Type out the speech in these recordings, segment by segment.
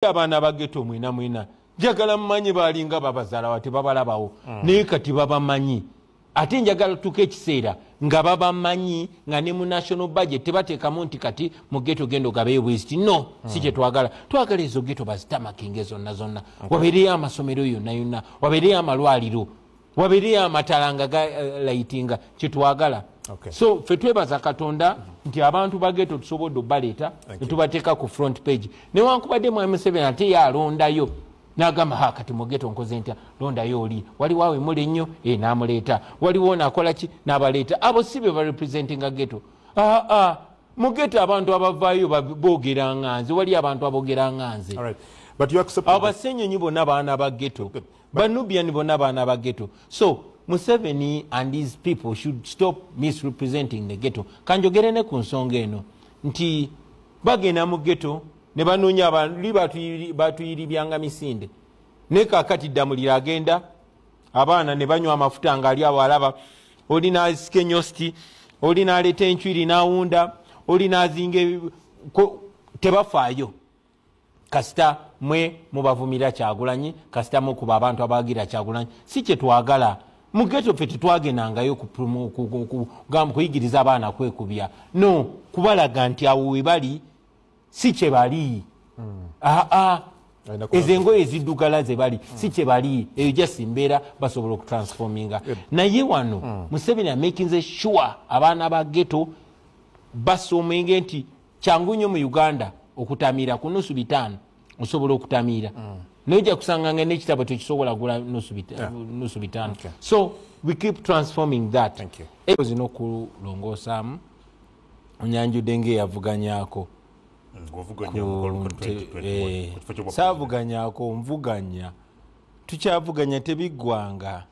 abaana bageto mwena mwena njagala mumanyi balinga babazalawa tebabalabawo mm. naye kati babamanyi ate njagala tuka ekiseera nga babamanyi nga ne mu national budget tebateekamu nti kati mu geto genda ogabeyo bweziti no si mm. kyetwagala twagala ezo geto bazitamakinge zonna zonna wabeereyo amasomero yonna yonna wabeereyo amalwaliro wabiri amatala nga galayitinga eh, kyetwagala okay. so fe twebaza katonda mm -hmm. nti abantu bageto tusobodde obaleeta netubateeka ku front page newankubadde mwami museveni ate yalondayo nagamba ha kati mugeto nkoze ntya londayo oli waliwo awo emuli ennyo e eh, namuleeta waliwo nakolaki nabaleeta abo si be barepresentinga geto aa ah, ah. mugeto abantu abavaayo bogera nga nze waliyo abantu abogera nga nze abasenyonyi bonna baana ba geto banubian bona baana ba geto so museveni and his people should stop misrepresenting the geto kanjogere ne ku nsonga eno nti bagenda mu geto ne banoonya bali batuyiribyanga misinde naye kakati ddamulira agenda abaana ne banywa amafuta ngaali awo alaba oli nasika enyosti oli naleeta enchwiri nawunda oli nazinga tebafaayo kasita mwe mubavumira kyagulanyi kasita mukuba abantu abagira kyagulanyi si kyetwagala mugeto ffe tetwagenangayo kuyigiriza abaana kwekubya no kubalaga nti awo webali si kyebali hmm. aa ezo engoye eziddugala zebali hmm. si kyebali eyo jasi mbeera basobola okutransforminga naye wano hmm. museveni amakinze sure abaana ba geto basomenge nti kyangu nyo mu uganda okutamiira ku nusu bitaano osobola okutamiira mm. naye oja kusanga nga nekitabo tekisobola gula nusu bitaano so we keep transforming that zina okulongoosaamu onyanjudde ngaeyavuganyako eh, saavuganyako nvuganya tukyavuganya tebiggwanga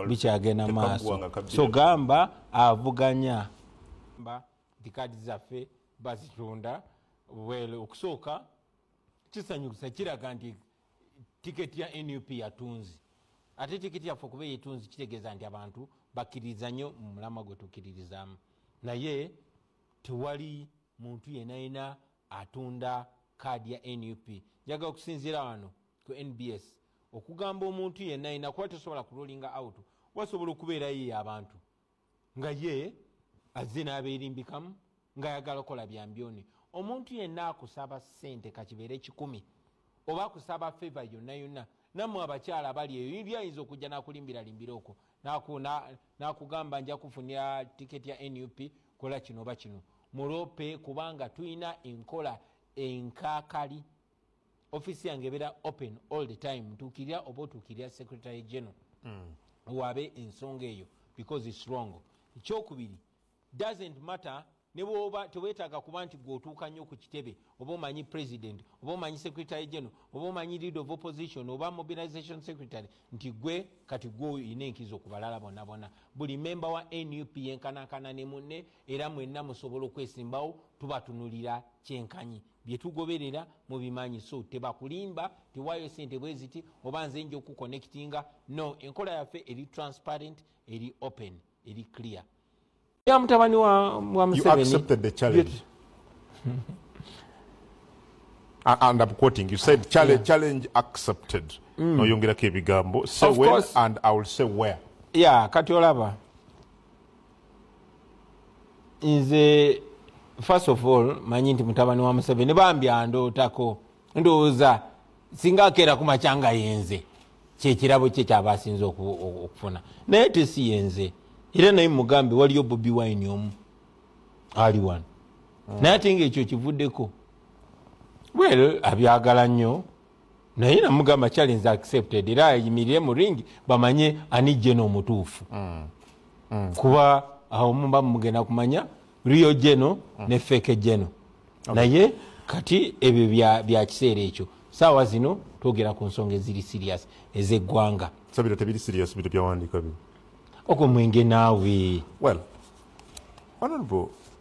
bikyagenda maaso so gamba avuganya nti kaadi zaffe bazitunda well okusooka kisanyusa kiraga nti tiketi ya nup yatunzi ate tiketi yaffe okuba eyetunzi kitegeeza nti abantu bakkiririza nnyo mu mulama gwe tukkiririzaamu naye tewali muntu yenayina atunda kaadi ya nup njagala okusinziira wano ku nbs okugamba omuntu yenayina kuba tosobola kulolinga out wasobola okubeerayo abantu nga ye azze n'abeerimbikamu ng'ayagala okola byambyoni omuntu yenna akusaba ssente kakibeere kikumi oba akusaba feva yonna yonna nammwe abakyala abali eyo yiri ayinza okujja n'akulimbiralimbira okwo n'akugamba nja kufunira tiketi ya nup kola kino oba kino mulope kubanga tulina enkola enkakali office yange ebeera open all the time ntuukirira oba otuukirira secretary general mm. waabe ensonga eyo because its wrong ekyokubiri doesn't matter nebwoba tewetaaga kuba nti gweotuuka nnyo ku kitebe oba omanyi president oba omanyi secretary general oba omanyi lead of opposition oba mobilization secretary nti gwe kati gwe olina enkizo ku balala bonna bonna buli memba wa nup yenkanankana ne munne era mwenna musobola okwesimbawo tubatunulira kyenkanyi byetugoberera mubimanyi so tebakulimba tiwayo sente bweziti oba nze nja okuconnectinga no enkola yaffe eri transparent eri open eri clear ya mutabani wa, wa museveni and I'm quoting you said challenge, yeah. challenge accepted mm. noyongerako ebigambo say when and I will say where yeah kati olaba nze first of all manyi nti mutabani wa museveni bambi andootako ndowooza singa akeera kumakya nga yenze kyekirabo kye kyaba asinza okufuna naye tesi yenze era naye mugambe waliyo bobi wine omu ali wano hmm. naye ate nga ekyo kivuddeko well abyagala nnyo naye namugamba challenge accepted era ayimirire mu ringi bamanye ani jeno omutuufu mm. mm. kuba awo muba mugenda kumanya rio jeno mm. ne feke jeno okay. naye kati ebyo bya kiseera ekyo saawa zino twogera ku nsonga eziri serious ezeggwanga so bino tebiri serious bino byawandiika bino ogwo mwenge naawe well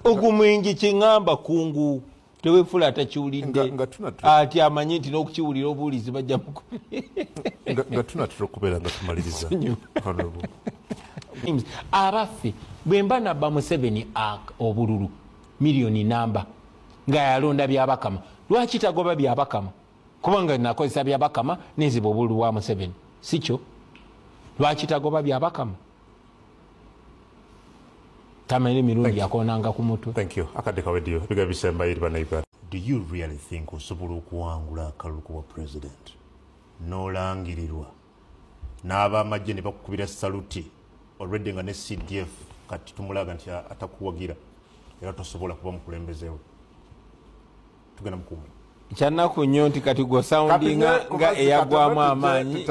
ogwo mwenge kyeŋamba kungu tewefula atakiwulidde ati amanyi nti n'okukiwulira obuwulizi bajja mukunga tunatera okubeera nga tumaliriza abaffe bwe mba nabba museveni obululu miliyoni namba nga yalonda byabakama lwaki tagoba byabakama kubanga nakozesa byabakama neziba obululu bwa museveni sikyo lwaki tagoba byabakama tamanyi mirundi yakonanga ku mutwe thank you akadde kawedio biga bisemba iri bana uganda do you really think osobola okuwangula akalulu kuba president nolangirirwa n'abamagye ne bakukubira saluti already nga ne cdf kati tumulaga nti atakuwagira era tosobola kuba mukulembezewo tugenda mukuumi kyanaku nnyo nti kati gwosoundinga nga eyagwamu amaanyi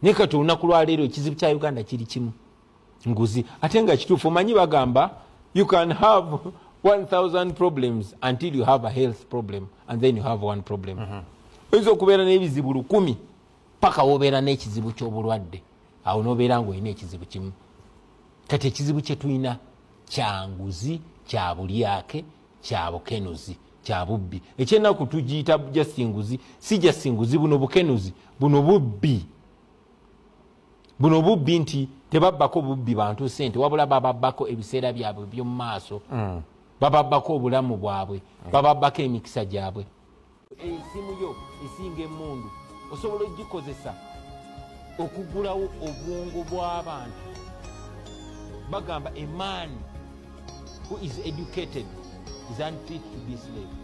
naye kati olunaku lwaleero ekizibu kya uganda kiri kimu nguzi ate nga kituufu omanyi bagamba you can have 1000 problems until you have a health problem and then you have one problem mhm. oyinza mm -hmm. okubeera n'ebizibu lukumi paka wobeera n'ekizibu ky'obulwadde awo nobeera ngaolina ekizibu kimu kati ekizibu kyetulina kyanguzi kyabulyake kyabukenuzi kyabubbi ekyenaku tugiyita jasinguzi si jasinguzi buno bukenuzi buno bubbi buno bubbi nti tebabbako bubbi bantu sente wabula bababbako ebiseera byabwe byomumaaso mm. bababbako obulamu bwabwe bababbako emikisa gyabwe esimu yo esinga emundu osobola ogikozesa okugulawo obwongo bw'abantu bagamba a man who is educated is unfit to be slave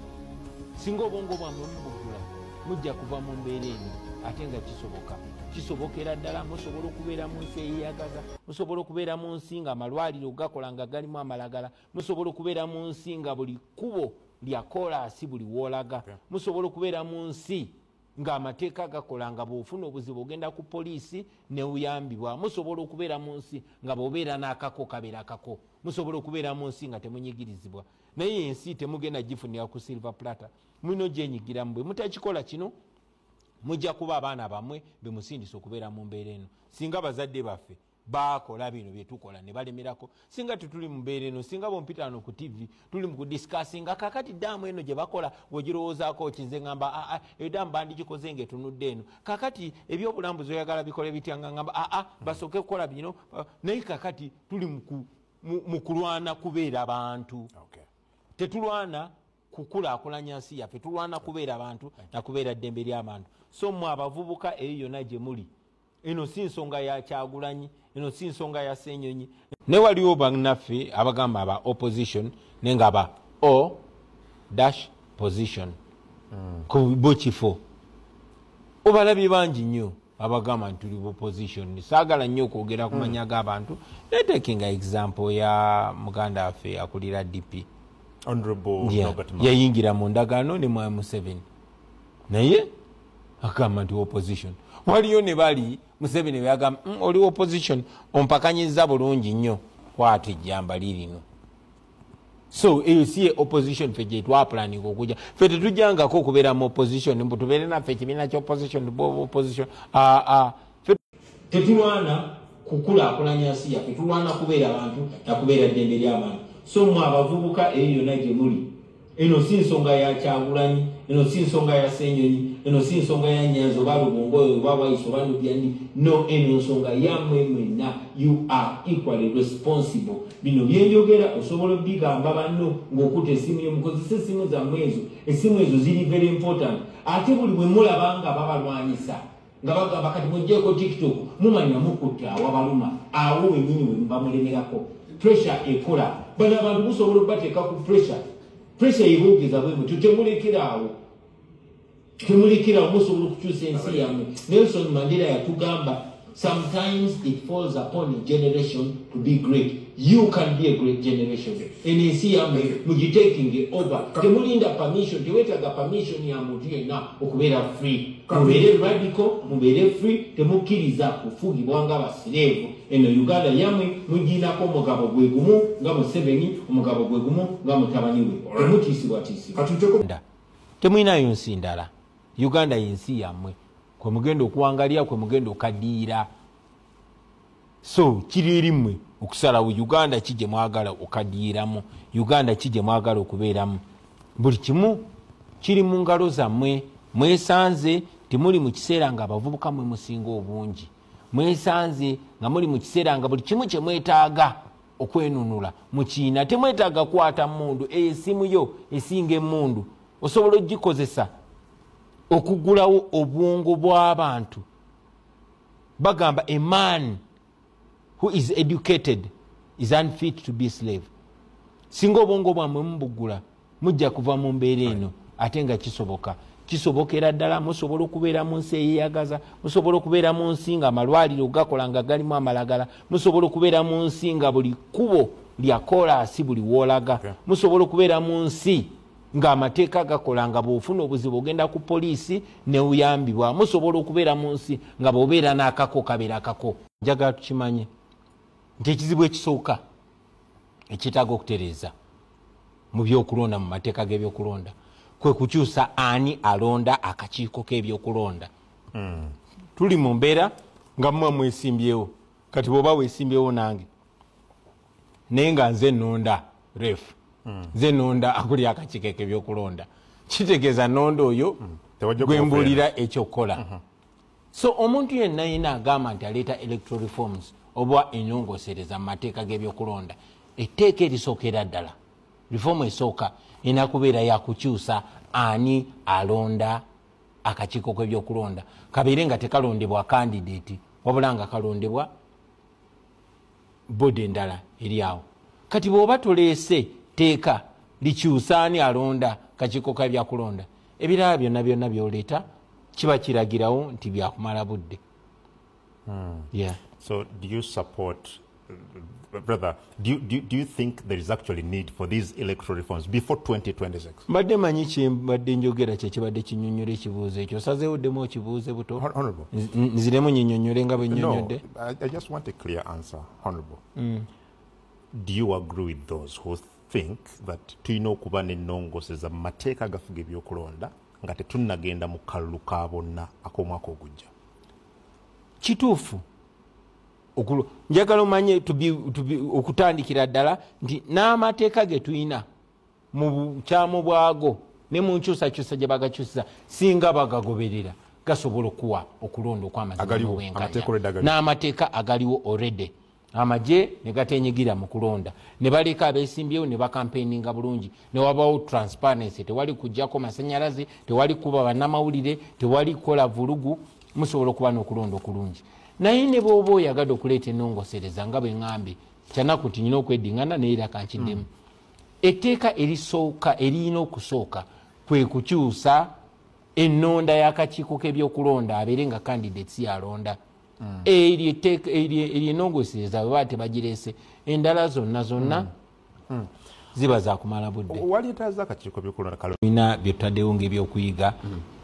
singa obwongo bwamwe mubugula mujja kuva mu mbeera eno ate nga kisoboka kisobokera ddala musobola okubeera mu nsi eyeyagaza musobola okubeera mu nsi nga amalwaliro gakola nga galimu amalagala musobola okubeera mu nsi nga buli kkubo lya koolaasi buli woolaga musobola okubeera mu nsi ng'amateeka agakola nga bw'ofuna obuzibu ogenda ku poliisi neuyambibwa musobola okubeera mu nsi nga bw'obeera n'akako kabeera kako musobola okubeera mu nsi nga temunyigirizibwa naye ensi temugenda gifunira ku silver platter mulina ogyenyigiramu bwe mutakikola kino mujja kuba abaana bamwe bemusindisa okubeera mu mbeera eno singa bazadde baffe bakola bino byetukola nebalemerako singa tetuli mubeera eno singa bompitano ku tv tuli mukudisikasinga kakati daamu eno gyebakola wegirowoozaako ki nze ngamba aa ah, ah, eyo daamu bandigikoze nga etunudde eno kakati ebyobulambuzi oyagala bikole bitya nga ngamba aa ah, basooke kukola bino naye kakati tuli mukulwana kubeera bantu tetulwana kukulakulanya nsi yaffe tulwana kubeera bantu nakubeera ddembe lyabantu so mwe abavubuka eyo yona gyemuli eno si nsonga ya kyagulanyi eno si nsonga ya senyonyi naye waliwo banaffe abagamba aba opposition naye nga ba o dash position mm. ku bo kifo obalabye bangi nnyo abagamba nti tuli buposition saagala nnyo okwogera ku hmm. manya g'abantu naye takinga example ya muganda waffe akulira dp yayingira mu ndagaano ne mwami museveni naye agamba nti opposition waliyo ne bali museveni beagamba mm, oli opposition ompakanyiza bulungi nnyo kwata ejjamba lirino so eyo si ye opposition fe gyetwapulaninga okuja fe tetujangako okubeera mu opposition mbu tubeere naffe ekibiina kya opposition bo opposition aa ah, ah. tetulwana kukulaakulanya nsi yaffe tulwana kubeera bantu nakubeera ddembe ly'abantu so mwe abavubuka eyo yonna gye muli eno si nsonga ya kyagulanyi eno si nsonga ya senyonyi eno si nsonga ya nyanzi oba lubongoyo oba waisi oba nubyandi no eno nsonga yamwe mwena you are equally responsible bino byenjogera osobola obigamba banno ng'okuta esimu yo mukozesa esimu zammwe ezo esimu ezo ziri very important ate buli bwe mulaba nga babalwanyisa nga bagamba kati mujjeeko tiktok mumanya mukutte awabaluma awo wenyini webamulemerako pressure ekola bano abantu musobola okubateeka ku pressure pressure yebogeza bwemu tutemulekeraawo temulekeraawo musobola okukyusa ensi yamwe nelson mandela yatugamba sometimes it falls upon a generation to be great You can be a great generation. Eno ensi yamwe mugitekinge over. Temulinda permission, tewetaaga permission ya muntu yenna okubeera free. Mubeere radical, mubeere free, temukkiriza kufugibwa nga basireevu. Eno Uganda yamwe mugiinako omugabo gwe gumu nga Museveni, omugabo gwe gumu nga mutabani we. Temutiisibwatiisibwa. Temulinayo nsi ndala. Uganda y'ensi yamwe. Kwe mugenda okuwangalira, kwe mugenda okadiira. so kiri eri mmwe okusalawo uganda ki gye mwagala okadiyiramu uganda ki gye mwagala okubeeramu buli kimu kiri mu ngalo zammwe mwesanze timuli mu kiseera nga abavubuka mwe musinga obungi mwesanze nga muli mu kiseera nga buli kimu kye mwetaaga okwenunula mu kiina temwetaaga kukwata mundu eyo esimu yo esinga emundu osobola okugikozesa okugulawo obwongo bw'abantu bagamba a man who is educated is unfit to be slave singa obwongo bwamwe mubuggula mujja kuva mu mbeera eno ate nga kisoboka kisobokera ddala musobola okubeera mu nsi eyeyagaza musobola okubeera mu nsi nga amalwaliro gakola nga galimu amalagala musobola okubeera mu nsi nga buli kkubo lya koolaasi buli woolaga musobola okubeera mu nsi ng'amateeka gakola nga bw'ofuna obuzibu ogenda ku poliisi neuyambibwa musobola okubeera mu nsi nga bw'obeera n'akako kabeera kako njagala tukimanye nti ekizibu ekisooka ekyetaaga okutereeza mu byokulonda mu mateeka g'ebyokulonda kwe kukyusa ani alonda akakiiko k'ebyokulonda hmm. tuli mu mbeera nga muba mwesimbyewo kati bw'oba wesimbyewo nange naye nga nze nonda ref hmm. nze nonda akuli akakike kebyokulonda kitegeeza nonda oyo hmm. gwembulira ekyokukola hmm. so omuntu yenna yina agamba nti aleeta electoral reforms oba enyongosereza mu mateeka gebyokulonda etteeka erisookera ddala reform esooka erina kubeera yakukyusa ani alonda akakiiko kebyokulonda kabeere nga tekalondebwa kandidati wabula nga kalondebwa bodi endala eri awo kati bwoba toleese teeka likyusaani alonda kakiiko ka byakulonda ebirala byonna byonna byoleeta kiba kiragirawo nti byakumala budde hmm. yeah. so do you support brother do you, do, do you think there is actually need for these electoral reforms before 2026 mbadde manyi kyembadde njogera kyekibadde kinyonyola ekibuuzo ekyo osazeewo ddemu okibuuze buto nziremu nyinyonyole nga bwenyonyodde I, I just want a clear answer, Honorable. Mm. Do you agree with those who think that tulina okuba n'ennongoseza mu mateeka agafuga ebyokulonda nga tetunnagenda mu kalulu ka bonna ak'omwaka ogujja kituufu njagala omanye okutandikira ddala nti n'amateeka ge tulina mu bukyamu bwago ne mu nkyusakyusa gye bagakyusiza singa bagagoberera gasobola okuwa okulonda okwamazimobwenkanyan'amateeka agaliwo orede amagye ne gatenyigira mu kulonda ne baleka abesimbyewo ne bakampeininga bulungi ne wabawo transparency tewali kujjako masanyalaze tewali kuba bannamawulire tewali kukola vulugu musobola okuba n'okulonda okulungi naye ne bwoba oyagadde okuleeta enongosereza nga bwe ŋambye kyanaku nti nyina okwedingana naye era kankiddemu mm. etteeka erisooka eriyina okusooka kwe kukyusa ennonda y'akakiiko k'ebyokulonda abeere nga candidates yalonda mm. eryo etteeka eryo enongosereza bwe baa tebagireese endala zonna zonna mm. Mm. ziba zakumala budde biina byetutaddewo ngaebyokuyiga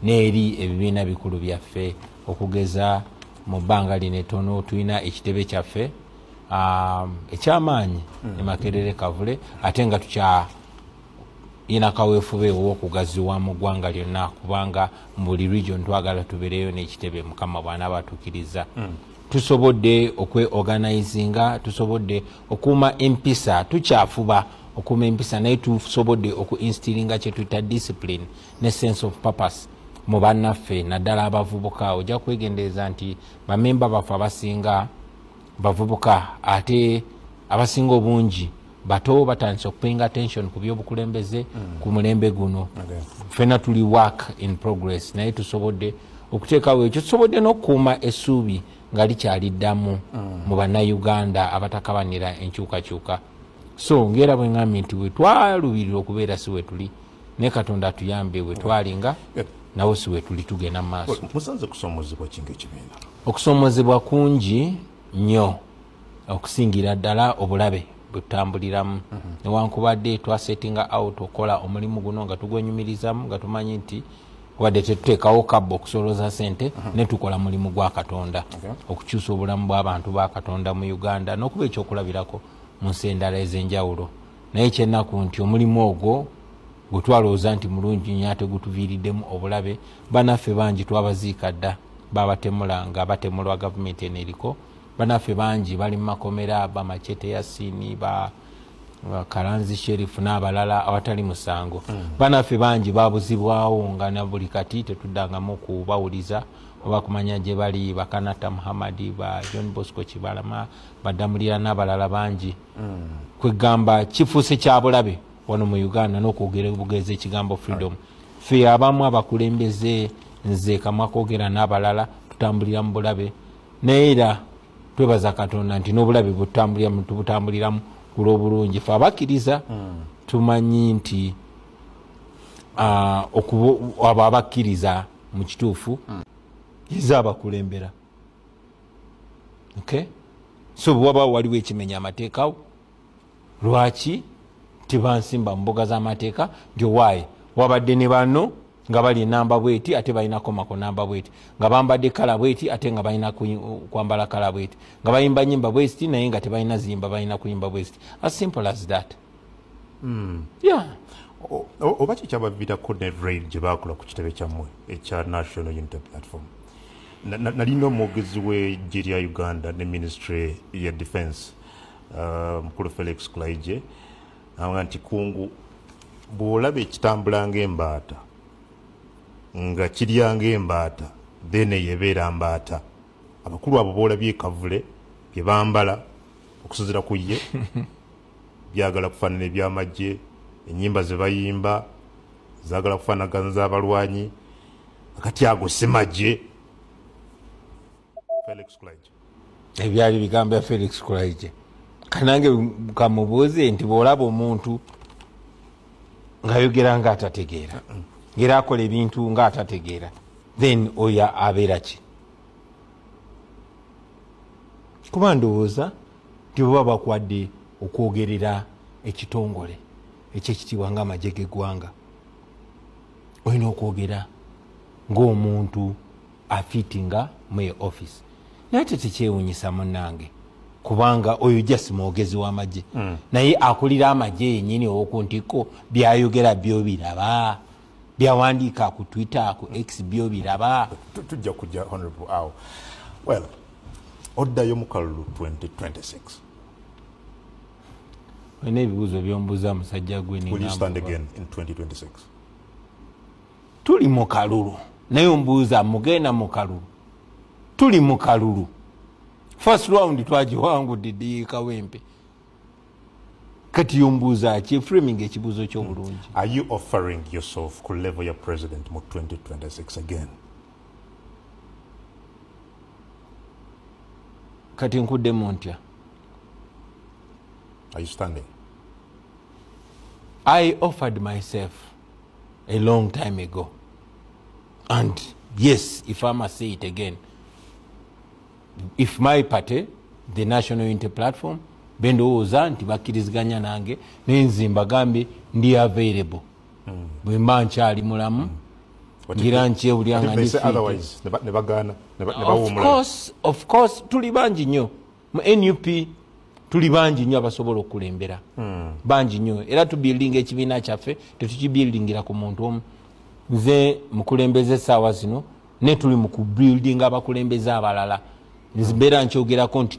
n'eri ebibiina bikulu byaffe okugeza mu bbanga lino etono tulina ekitebe kyaffe um, ekyamaanyi mm. emakerere kavule ate nga tukya ina kawefube owokugaziwa mu ggwanga lyonna kubanga mu buli region twagala tubereyo n'ekitebe mukama bwana batukiriza mm. tusobodde okweorganizinga tusobodde okuuma empisa tukyafuba okuuma empisa naye tusobodde okuinstiringa kyetuyita discipline ne sense of purpose mu bannaffe naddala abavubuka ojja kwegendereza nti bamemba baffe abasinga bavubuka ate abasinga obungi bato batandise okupenga attention ku byobukulembeze mm. ku mulembe guno okay. fena tuli work in progress naye tusobodde okuteekawo ekyo tusobodde n'okukuuma essuubi nga likyali ddamu mm. mu bannayuganda abatakabanira enkyukakyuka so ngaera bwengambye nti wetwalubirira okubeera si wetuli ne katonda atuyambe wetwalinga nawo si wetuli tugenda mu maaso musanze kusomozebwa kinga ekibiina okusomozebwa kungi nnyo okusingira ddala obulabe bwetutambuliramu mhm. newankubadde twasettinga out okukola omulimu guno nga tugwenyumirizamu nga tumanyi nti wadde tetuteekawo kabba okusoloza sente mhm. netukola mulimu gwa katonda okukyusa obulamu bw'abantu ba katonda mu uganda n'okuba ekyokulabirako mu nsi endala ez'enjawulo naye kyenaku nti omulimu ogwo gwe twalowooza nti mulungi nyo ate gutuviiriddemu obulabe banaffe bangi twabaziika dda babatemula nga batemulwa gavumenti eno eriko banaffe bangi bali mu makomera bamacete yasini ba karanzi sherif n'abalala awatali musango mm. banaffe bangi babuzibwawo nga na buli kati tetuddangamu kubawuliza oba kumanya gye bali bakanata muhammadi ba john bosco kibalama badamulira n'abalala bangi mm. kwegamba kifuuse kyabulabe wano mu uganda nokwogera bugezi ekigambo freedom fe abamu abakulembeze nze kamwa kogera n'abalala tutambulira mu bulabe naye era twebaza katonda nti n'obulabe bwetutambuliramu tubutambuliramu kulwobulungi fe abakkiriza hmm. tumanyi nti abo abakkiriza mu kituufu hmm. yiza abakulembera so bwewabaawo waliwo ekimenya amateekawo lwaki tibansimba mumbuga zamateeka nti owaaye wabadde ne bano nga bali enamba bweti ate balina komako namba bweti nga bambadde kala bweti ate nga balina kwambala kala bweti nga bayimba nyimba bwesti naye nga tebalina ziyimba balina kuyimba bwesti as simple as that mm. yeah. oba kyekyabavirako ne rail gye bakola ku kitebe kyammwe ekya national unity platform nalina omwogezi w'eggye lya uganda ne ministry ya defense Uh, mukulu felix kulaije awa nti kungu bwolaba ekitambula ngaembaata nga kirya ngaembaata then eyo ebeera mbaata abakulu abo boolabye ekavule byebambala okusuzira ku ye byagala kufaanana ebyamagye enyimba zebayimba zagala kufaanagana z'abalwanyi akati ago simagye ebyali bigambo bya felix kulaije kanange kamubuuze nti bwolaba omuntu ngayogera nga atategeera ngera akola ebintu nga atategeera then oyo abeera ki kuba ndowooza nti baba bakwadde okwogerera ekitongole ekyekitiibwa nga amagye geggwanga olina okwogera ngaomuntu afitinga muye office naye tetekyewunyisa munange kubanga oyo just mwogezi wamagye mm. naye akulira amagye yenyini owokuntikko byayogera byobiraba byawandiika ku twitter ku x byobiraba tujja kujja honorable awo well oddayo mukalulu 2026 olina ebibuuzo byombuza musajja gwe tuli mu kalulu naye ombuuza mugenda mu kalulu tuli mu kalulu first round twagiwangudde diyikawempe kati yombuuza ki framing ekibuuzo kyobulungi are you offering yourself ku level ya president mu 2026 again kati nkuddemu ntya are you standing i offered myself a long time ago and yes if i must say it again if my party the national unity platform bendowooza nti bakkiriziganya nange nenze mbagambye ndi available mm. bwemba nkyali mulamu mm. ngira nkyewulya nga nifitnebagaana tuli bangi nnyo mu nup tuli bangi nyo abasobola okulembera hmm. bangi nyo era tubuildinga ekibiina kyaffe tetukibuildingira ku muntu omu nze mukulembeze esaawa zino naye tuli mukubuildinga abakulembeze abalala mbeera nkyogerako nti